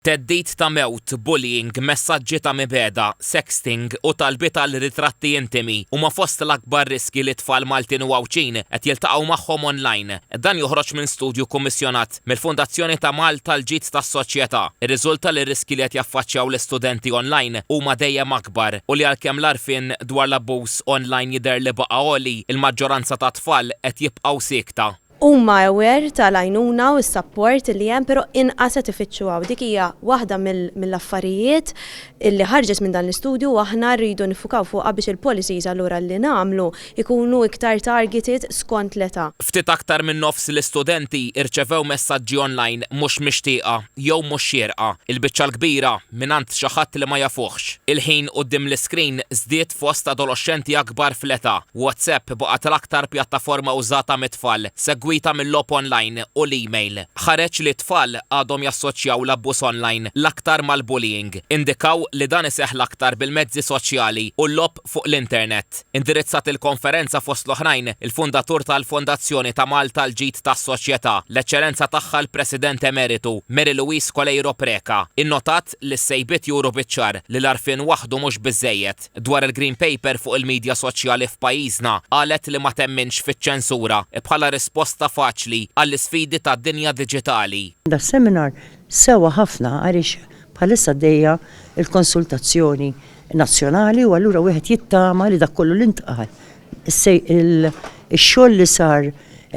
Theddid ta' mewt, bullying, messaġġi ta' mibegħda, sexting u talbiet għal ritratti intimi huma fost l-akbar riskji li tfal Maltin u Għawdxin qed jiltaqgħu magħhom online. Dan joħroġ minn studju kkummissjonat mill-Fundazzjoni ta' Malta għall-Ġid tas-Soċjetà. Irriżulta li r-riskji li qed jaffaċċjaw l-istudenti online huma dejjem akbar u li għalkemm l-għarfien dwar l-abbuż online jidher li baqa' għoli, il-maġġoranza tat-tfal qed jibqgħu siekta. Huma aware tal-għajnuna u s-sapport li hemm pero' inqas qed ifittxu hawn. Dik hija waħda mill-affarijiet li ħarġet minn dan l-istudju u aħna rridu niffukaw fuqha biex il-policies allura li nagħmlu jkunu iktar targeted skont l-età. Ftit aktar minn nofs l-istudenti rċevew messaġġi online mhux mixtieqa jew mhux xierqa. Il-biċċa l-kbira mingħand xi ħadd li ma jafuhx. Il-ħin quddiem l-iskrin żdied fost adoloxxenti akbar fl-età. WhatsApp baqgħet l-aktar pjattaforma użata mit-tfal, segwita mil-logħob onlajn u l-email. Ħareġ li t-tfal għadhom jassoċjaw l-abbuż onlajn l-aktar mal-bullying. Indikaw li dan iseħħ l-aktar bil-mezzi soċjali u l-logħob. fuq l-internet. Indirizzat il-konferenza fost l-oħrajn il-fundatur tal-Fondazzjoni ta' Malta l-Ġid tas-Soċjetà, l-Eċċellenza Tagħha l-President Emeritu, Mary Louise Coleiro Preca, innotat li s-sejbiet juru biċ-ċar li l-għarfien waħdu mhux biżżejjed. Dwar il-Green Paper fuq il-midja soċjali f'pajjiżna, qalet li ma temminx fiċ-ċensura bħala risposta faċli għall-isfidi tad-dinja diġitali. Das-seminar sewwa ħafna għaliex bħalissa għaddejja l-konsultazzjoni nazzjonali u allura wieħed jittama li dak kollu li ntqal ix-xogħol li sar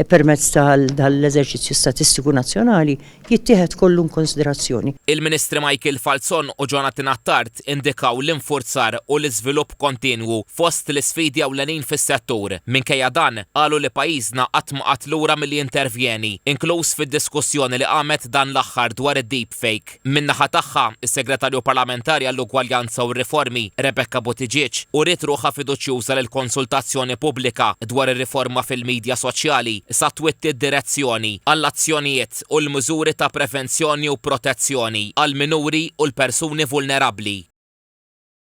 permezz tal-eżerċizzju statistiku nazzjonali jittieħed kollu inkunsiderazzjoni. Il-Ministri Michael Falzon u Jonathan Attard indikaw l-infurzar u l-iżvilupp kontinwu fost l-isfidi ewlenin fis-settur. Minkejja dan, qalu li pajjiżna qatt ma qagħad lura milli jintervjeni, inkluż fid-diskussjoni li qamet dan l-aħħar dwar id-deepfake. Min-naħa tagħha, is-Segretarju Parlamentari għall-Ugwaljanza u r-Riformi, Rebecca Buttigieg, uriet ruħha fiduċjuża li l-konsultazzjoni pubblika dwar ir-riforma fil-midja soċjali sa twitti d-direzzjoni għall-azzjonijiet u l-miżuri ta' prevenzjoni u protezzjoni għall-minuri u l-persuni vulnerabbli.